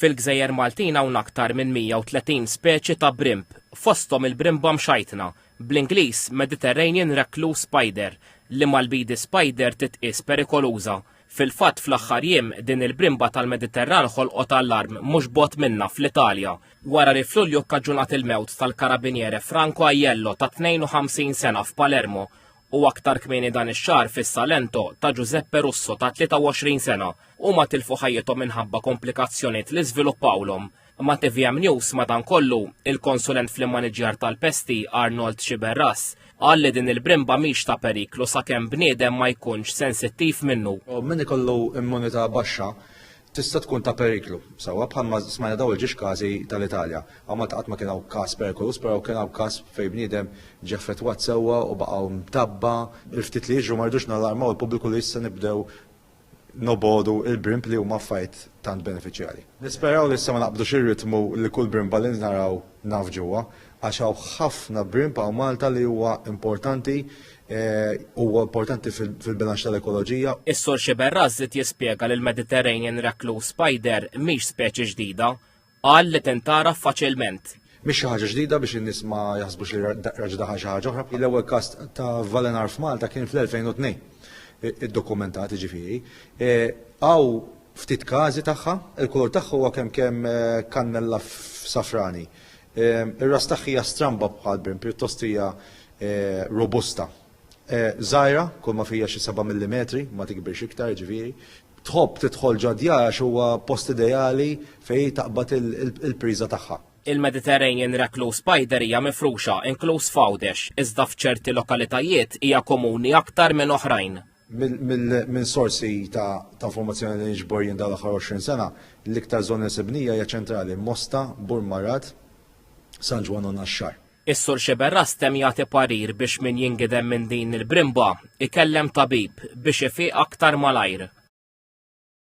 Fil-gżejjer Maltin hawn aktar minn 130 speċi ta' brimb, fosthom il-brimba mxajtna, bl-Ingliż Mediterranean Recluse Spider, li mal-bidi spider titqies perikoluża. Fil-fatt fl-aħħar jiem din il-brimba tal-Mediterran ħolqot allarm mhux bogħod minnha fl-Italja, wara li f'Lulju kkaġunat il-mewt tal-karabiniere Franco Aiello ta' 52 sena f'Palermo u aktar kmieni dan ix-xahar fissa l-ento ta' Giuseppe Russo ta' 23 sena. Huma tilfu ħajjithom minħabba komplikazzjonijiet li żviluppawlhom. Ma' tvm News, madankollu, il-konsulent fl-immaniġjar tal-pesti, Arnold Sciberras, qal li din il-brimba mhix ta' periklu sakemm bniedem ma jkunx sensittiv minnu. Min ikollu immunità baxxa tista' tkun ta' periklu. Sewwa bħalma smajna daw il-ġiex każi tal-Italja. Hawn Malta qatt ma kien hawn każ perikoluż, però kien hawn każ fejn bniedem ġie affettwat sewwa u baqgħu mtabba. Il-ftit li jiġru ma rridux nallarmaw il-pubbliku li issa nibdew nobogħdu il-brimb li huma affarijiet tant benefiċjali. Nisperaw li issa ma naqbdux ir-ritmu li kull brimba li naraw nafġuha. għax hawn ħafna brimp hawn Malta li huwa importanti eh, huwa importanti fil-bilanċ tal-ekoloġija. Is-Sur Xiberraz żied jispjega li l-Mediterranean Recluse Spider mhix speċi ġdida, qal li tintara faċilment. Mhix xi ħaġa ġdida biex in-nies ma jaħsbux li raġdaħa xi ħaġa oħra. L-ewwel każ ta' Valenar f'Malta kien fl-2002 id-dokumentat ġifieri. Eh, għaw ftit każi tagħha, il-kulur tagħha huwa kemm kemm eh, kannella safrani. Ir-ras tagħha hija stramba bħal brim, pjuttost hija robusta. Żgħira, kull ma fija xi seba' millimetri, ma tikbirx iktar, ġifieri. Tħobb tidħol ġo djar għax huwa post ideali fejn taqbad il-priża tagħha. Il-Mediterranean Recluse Spider hija mifruxa, inkluż f'Għawdex, iżda f'ċerti lokalitajiet hija komuni aktar minn oħrajn. Minn sorsi ta' informazzjoni li niġbor jien dawn l-aħħar 20 sena, l-iktar żona li sibnija hija ċentrali, Mosta, Burmarat, San Ġwann u Naxxar. Is-Sur Sciberras temm jagħti parir biex min jingidem minn din il-brimba, ikellem tabib biex ifiq aktar malajr.